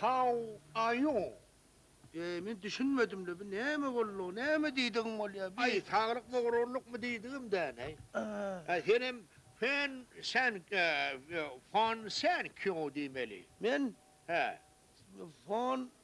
How are you? Eý, men düşünmedim-le, bu näme boldugy, näme diýdigiň bolýar, bi? Aý, saglyk bogrurlykmy diýdigim däneý. Aý, senem Fen sen Fon sen kýu diýmeli. Men? Hä. Fon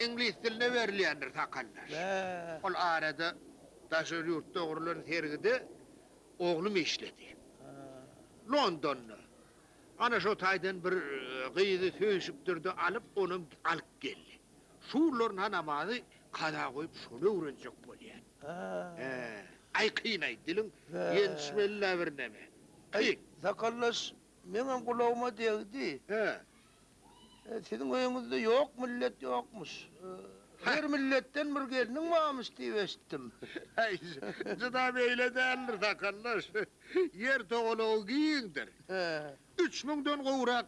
Iňlis diline berilýändir sakaldaş. Ol arada daşary ýurtda gurlan sergide oglum işledi. Londonda. Ana şo taýdan bir gyzy söýşüpdir-de alyp, onam alyp geldi. Şu günlerina namazy kaza goýup şony öwrenjek bolýan. He. Aý kyn-aý, diliň ýetişmeli-la birneme. Kyn. Sakaldaş, meňem gulagyma degdi. He. Siziň öýüňizde ýok millet ýokmuş. Her milletden bir gelniň barmyş diýip eşitdim. Häý, juda beýle däldir, sakaldaş. Ýer togalagy giňdir. Üç müňden gowrak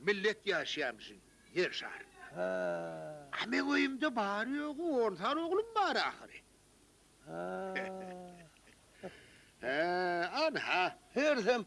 millet ýaşaýar biziň Ýer şarynda. A meň öýümde bary-ýogy on sany oglum bar ahyry. Ynha. Hersem,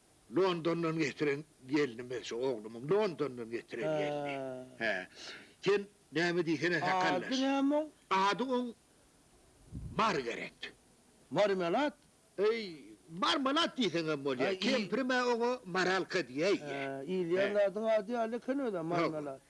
Londondan getiren gelnimi, şu oglumyň Londondan getiren gelni. Hä. Sen näme diýsene sakallaş. Ady näme oň? Ady oň Margaret. Marmelat? Eý, Marmalat diýseň hem bolýar. Kempirim-ä oňa Maralka diýäýýä. Hä, iýilýän zadyň ady ýaly eken özem, Marmelat.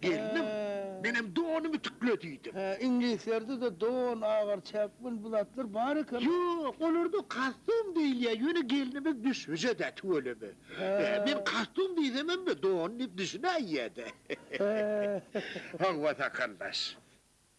Gelnim, menem donum ütükle diýdim. Hä, iňlislerde-de don, agar, çäkmen bu zatlar bar eken. Ýok, olarda kostum diýilýär, ýöne gelnimiz düşbüje-dä, tüweleme. Men kostum diýsemem don diýip düşünäýýä-dä. Hawa, sakaldaş.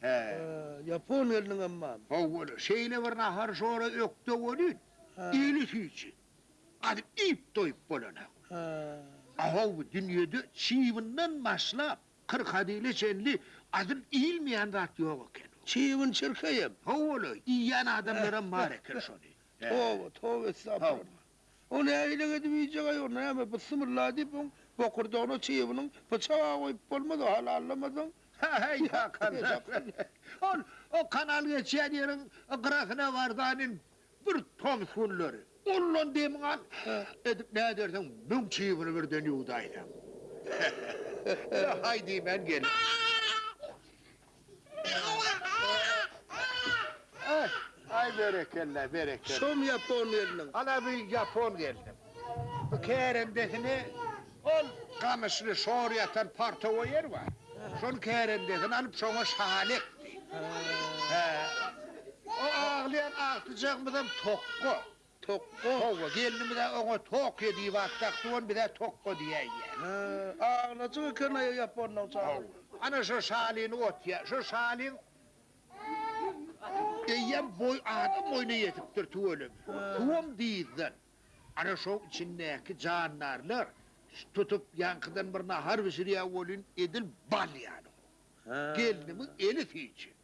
Hä. Ýapon gelniň amman. Hawa-la, şeýle bir nahar-şora ökde welin, eli süýji. Gaty iýip-doýup bolanok. Hä. A-how, bu dünýede çybyndan başlap, kyrkadile çenli adyl iýilmeýän zat ýok eken. Çybyn çirkeýem. Hawa-la, iýýän adamlaram bar eken şony. Toba, toba, estagfurullah. O nähilek edip iýjeg-ä ýok, näme, byssymylla diýip, oň bokurdagyna çybynyň pyçag-a goýup bolmaz-a, halallamasaň. Häý, Hakan, ol o kanal geçýän ýeriň gyrasyna bar-da inin, bir tomus günleri. Ondan demiň al edip näderseň, müň çybyny birden ýuwdaýsaň. Ýa-haý diýmän gelip. Aý berekella berekella. Şum ýapon gelniň. Ana bu ýapon gelnim. Bu kärendesini ol gamyşly şor ýatan partowa ýer bar. Şonuň kärendesini alyp şoňa şaly ekdi. Hä. O aglaýan agtyjagymyzam tokga. Tokga. Howwa, gelnimiz-ä oňa Tokio diýip at dakdy, ony biz-ä Tokga diýäýýäs. Hä, aglajyk eken-aýa ýaponlaň çagy. Howwa. Ana, şo şalyny otýa. Şo şalyň eýýäm boý, adam boýuna ýetipdir, tüweleme. Suwam dyzdan. Ana, şoň içindäki jandarlar tutup, ýaňkydan bir nahar bişirýär welin, edil bal ýaly gowy. Gelnimiň eli süýji.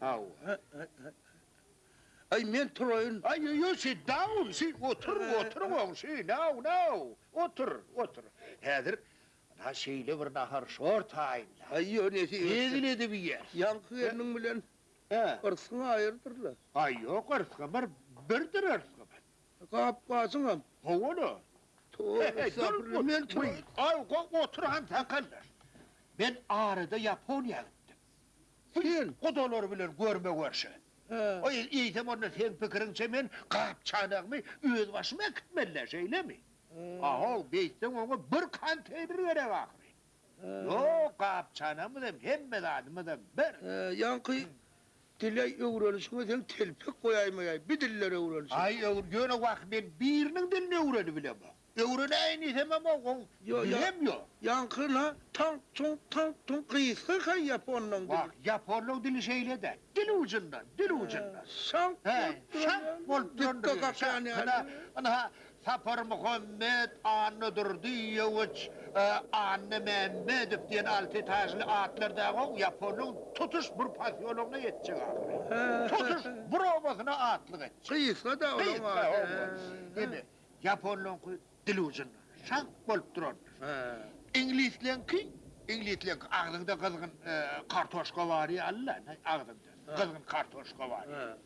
Haw. Aý, men turaýyn. Aý, ýok, sit down, sit, otur, otur, goňşy, now, now, otur, otur. Häzir ynha şeýle bir nahar şor taýynla. Aý, ýok, nesip etse. Hezil edip iýer. Ýaňky gelniň bilen yrsgyň aýyrdyr-la. Aý, ýok, yrsgy bir, birdir yrsgy bilen. Gap-gaçyňam. Hawa-la. Toba estagfirullah, men turaýyn. Aý, goý, otur, hansakallar. Men arada Ýaponiýa gitdim. Sen gudalary bilen görme-görşe. Aý, eýsem onda seň pikiriňçe men gap-çanagmy özbaşym äkitmeli-dä, şeýlemi? A-how, beýtseň oňa bir konteýner gerek ahyry. Ýok, gap-çanamyzam, hemme zadymyzam bir. Ýaňky dile-aý öwrenişiňe seň telpek goýaýmaýaý, bi dillere öwrenişiň. Aý, ýöne wah, men biriniň dilini öwrenibilemok. Öwrenäýin diýsemem oň dili hem ýok. Ýaňky la taňk tuňk taňk tuňk gysga ka ýaponlaň dili. Wah, ýaponlaň dili şeýle dä. Dil ujundan, dil ujundan. Şaňk bolup duran ýaly. Şaňk bolup duran ýaly. Dükde gapýan ýaly. Ynha, Saparmuhammet, Annadurdyýewiç, Annamämmedow diýen alty etažly atlar dagy oň ýaponlaň tutuş bir posýologyna ýetjek ahyry. Tutuş bir obasyna atlyk etjek. Gysga-da olaň ady. Gysga, hawa. Indi, Ýaponlaryňky dil ujunda, şaňk bolup durardy. Iňlisleňki, iňlisleňki agzyňda gyzgyn kartoşka bar ýaly-la, agzyňda gyzgyn kartoşka bar ýaly.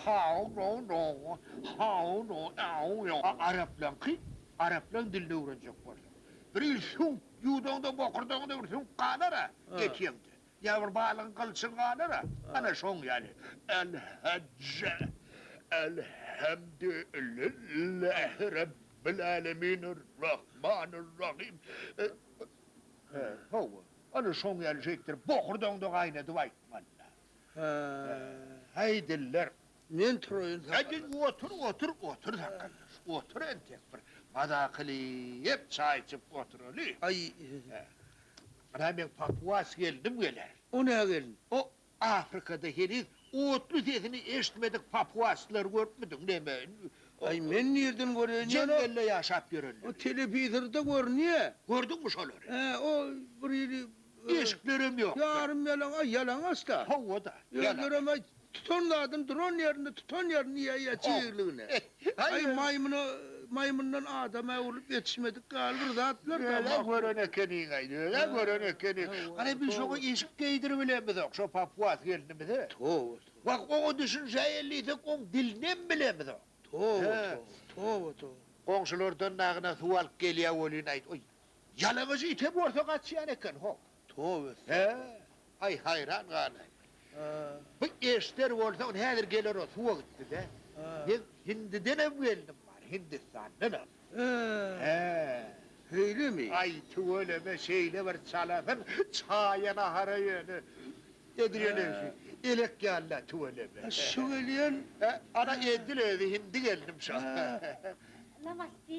How no no, how no ew yo. Araplaňky, araplaň dilini öwrenjek bolsaň, bir il süňk ýuwdaňda, bokurdagyňda bir süňk galar-a, ýetýäňde. Ýa bir balygyň gylçyny galara. Ana şoň ýaly. Äl-Hajja. Äl-Hemdü-ül-Lillähi Rabbil-Älemin Ür-Rahman-Ür-Rahim. Hawa, ana şoň ýaly şeýtdir. Bokurdagyňda gaýnadyp aýtmaly-da. Häý, diller. Men turaýyn sakgalla. Äjin, otur, otur, otur sakgallaş. Otur entek bir mazakylyp çaý içip oturaly. Aý. Ana men papuas gelnim geler. O nä gelin? O Afrikada heniz otly sesini eşitmedik papuaslary görüpmidiň neme? Aý, men nirden göreýin ýa-da. Jeňňelde ýaşap ýörenleri. O telewizorda görünýä. Gördüňmi şolary? Hä, o bir ýeri Eşiklerem ýok. Ýarym ýalaňaç, ýalaňaç-da. Howada. Özlerem aý tutan zadyny duran ýerinde tutan ýerini iýýä ýa çigirligini. Aý maýmyna maýmyndan adama öwrülip ýetişmedik ýaly bir zatlar da. Özä gören ekeniň aý, özä gören ekeniň. Hany biz şoňa eşik geýdirip bilemizok, şo papuas gelnimize. Toba toba. Wah oňa düşünşä elliysek oň dilinem bilemizok. Toba toba, toba toba. Goňşulardan dagyna suw alyp gelýä welin aýt, oý Ýalaňaç ite bolsa gaçýan eken, ho. Tobe-e! Aý, haýran galaý. Bu eşder bolsaň, häzir geler o suwa gitdi-dä. Men Hindidenem gelnim bar, Hindistandanam. Şeýlemi? Aý, tüweleme, şeýle bir çalasyn, çaýa-nahara ýöne edilenegsi, elek ýaly-da, tüweleme. Şu gelýän? Ana, edil özi, hindi gelnim şo. Namaste.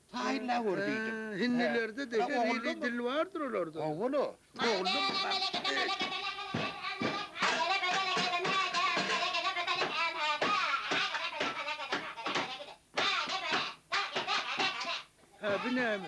Taýynla gör diýdim. Hindilerde-de her hili dil bardyr olarda. Owal-a. Hä, bu näme?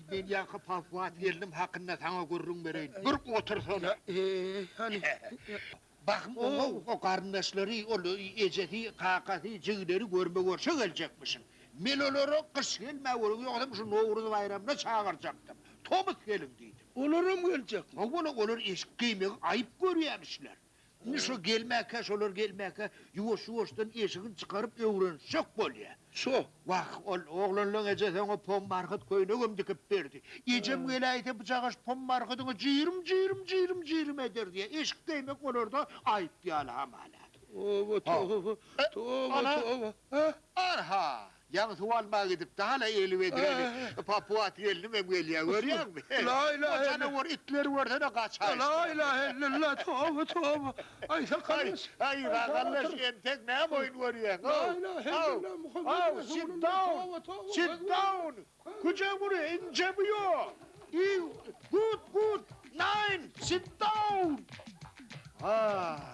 Men ýaňky Pahwa gelnim hakynda saňa gürrüň bereýin. Bir otursana. Eý, hany. Bahym oňa o garyndaşlary, ol ejesi, kakasy, jigileri görme görşe geljekmişin. Men olary gyş gelmä welin ýogsam şu Nowruz baýramyna çagyrjakdym. Tomus geliň diýdim. Olaram geljekmi? Hawa-la, olar eşik geýmegi aýyp görýämişler. Indi şo gelmäkä, şolar gelmäkä ýuwaş-ýuwaşdan eşigini çykaryp öwrenişjek bolýa. Şo wah, ol oglanlaň ejesi oňa pombarhyt köýnegem dikip berdi. Ejem geläýse bu jagaş pombarhydyňy jyýrym-jyýrym, jyýrym-jyýrym ederdi. Eşik geýmek olarda aýyp ýaly hamala. Toba, toba, toba, toba, toba. Ana, a-ha! Jaň suw almaga gidipdi hala eli wedräni papuat gelnim hem gelýär görýäňmi o janawar itleri görsene gaçaýyşdylar. Lailahellallah toba toba aý sakaldaş aý sakaldaş entek näme oýun görýäň how how how sit down sit down. Güjegury, inje bu ýol! Iu, gut, gut! Nein, sit down! Haa!